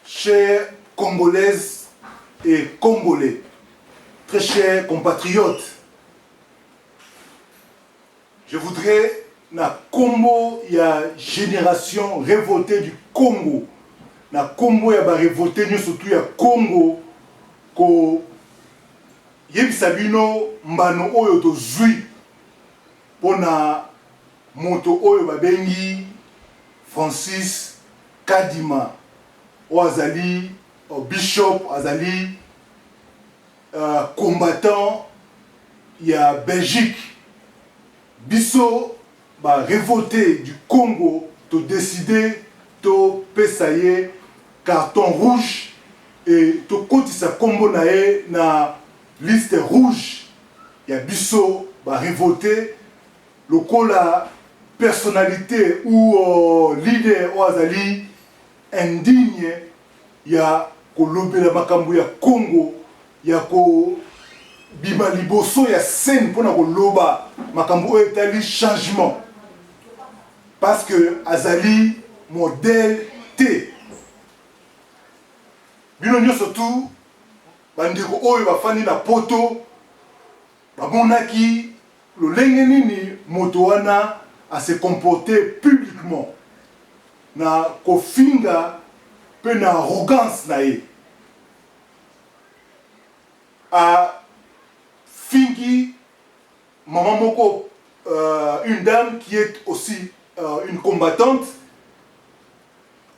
Chers Congolaises et Congolais, très chers compatriotes, je voudrais na kombo ya génération révoltée du Congo, na kombo ya ba révoltés nyo surtout ya Congo ko yebisa bino mbano oyo tozui Mpo na moto oyo babengi Francis Kadima, oyo azali bishop, azali combattant ya Belgique, biso ba revoltes du Congo to decider topesa ye carton rouge et tokotisa nkombo na ye na Liste rouge ya biso ba revoltes lokola personnalite ou leader oyo azali indigne ya kolobela makambo ya Congo, ya kobima liboso ya scène mpo na koloba makambo oyo etali changement parce que azali modèle te. Bino nionso tout Bandeko oyo bafandi na Poto bamonaki lolenge nini moto wana a se comporter publiquement, na kofinga mpe na arrogance na ye. Afingi maman moko, une dame qui est aussi une combattante,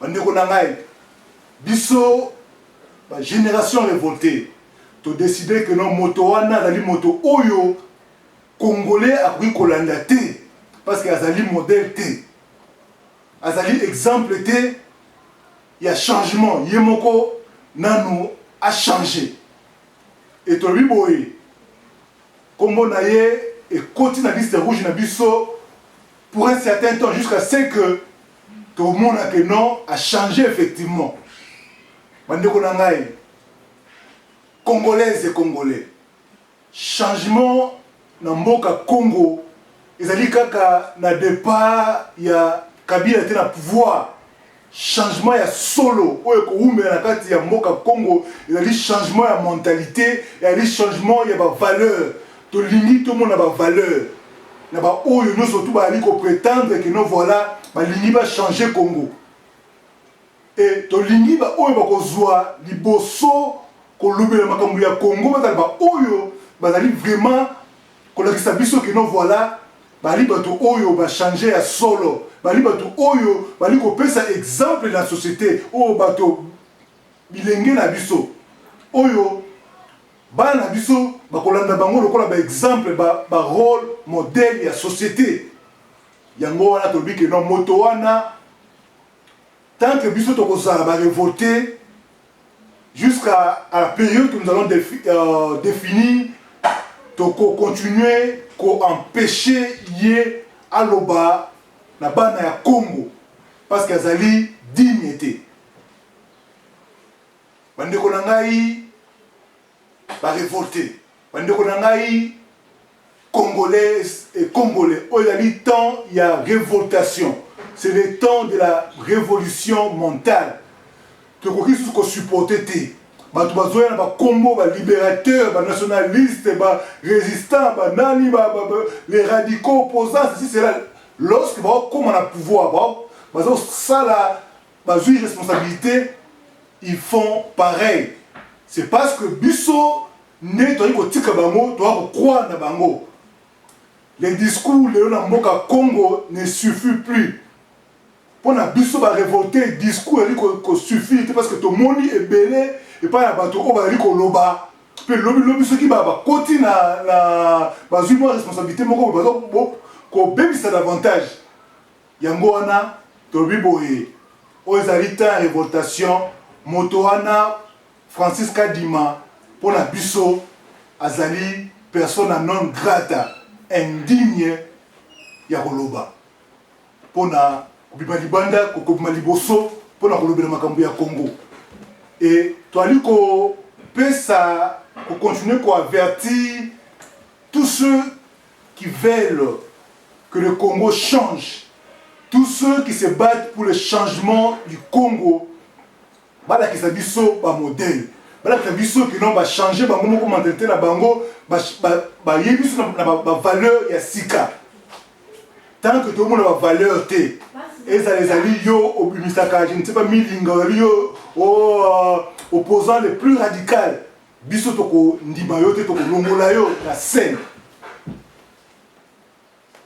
Bandeko na ngai, biso ba generations revoltees to decider que non moto wana azali moto oyo Congolais akoki kolanda te parce que azali modèle te, azali exemple te ya changement, ye moko nanu a changer. Et tolobi boye, kombo na ye ekoti na liste rouge na biso pour un certain temps jusqu'à ce que tomona que non a changer effectivement bandeko na ngai congolaise et congolais changement na mboka congo ezali kaka na départ ya kabila te na pouvoir Changement ya solo oyo ekowumela na kati ya mboka Congo ezali changement ya mentalite, ezali changement ya ba valeurs. Tolingi tomona ba valeurs na ba oyo nionso tout bazali ko pretendre que non voila balingi ba changer Congo. Et tolingi ba oyo bakozua liboso kolobela makambo ya Congo bazala ba oyo bazali vraiment Kolakisa biso que non voila bali batu oyo ba change ya solo, bali batu oyo bali kopesa exemple na societe oyo bato bilenge na biso oyo bana na biso bakolanda bango lokola ba exemple ba, ba role modèle ya societe. Yango wana tolobi que non moto wana Tant que biso toko zala ba revolte jusqu'à à la periode que nous allons defi, euh, definir toko continuer ko empecher ye aloba na bana ya Congo parce que azali digne te. Bandeko na ngai ba revolte ba ndeko na ngai congolais et congolais oyo ezali temps ya revoltation c'est le temps de la révolution mentale tokoki susu ko supporter te bato bazoya na bakombo ba libérateur ba nationaliste ba résistant ba nani ba, ba, ba, les radicaux opposants ceci cela lorsque baokoma na pouvoir baza kosala bazui responsabilite ils font pareil c'est parce que biso nde toyaki kotika bango toya kokroire na bango les discours lelo na mboka congo ne suffit plus mpo na biso barevolte discours ezali kosuffire te parce que tomoni ebele epai ya bato oyo bazali koloba mpe lobilobi soki bakoti na bazwi mwa responsabilité moko baza kobebisa davantage Yango wana tolobi boye, oyo ezali temps ya revoltation, moto wana Francis Kadima mpo na biso azali persona non grata, indigne ya koloba mpo na kobima libanda, kobima liboso mpo na kolobela makambo ya Congo et toali kopesa ko continuer ko avertir tous ceux qui veulent que le Congo change tout ceux qui se battent pour le changement du Congo balakisa biso ba modèle balakisa biso que non ba changer bango moko mentalité na bango bayebi biso na ba valeur ya sika tant que tomona ba valeur te ezala ezali yo obimisaka je ne sais pas milinga ozali yo oh, opposant le plus radical Biso toko ndima yo te toko longola yo na scène.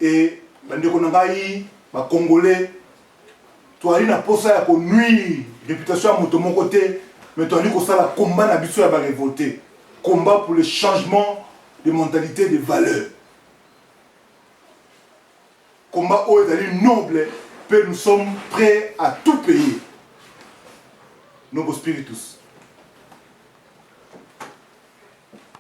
Et bandeko na ngai ba congolais toali na posa ya ko nuire reputation ya moto moko te mais toali kosala combat na biso ya ba revolter. Combat pour le changement de mentalité de valeur. Combat oyo ezali noble mpe nous sommes prets à tout payer. Nobo Spiritus.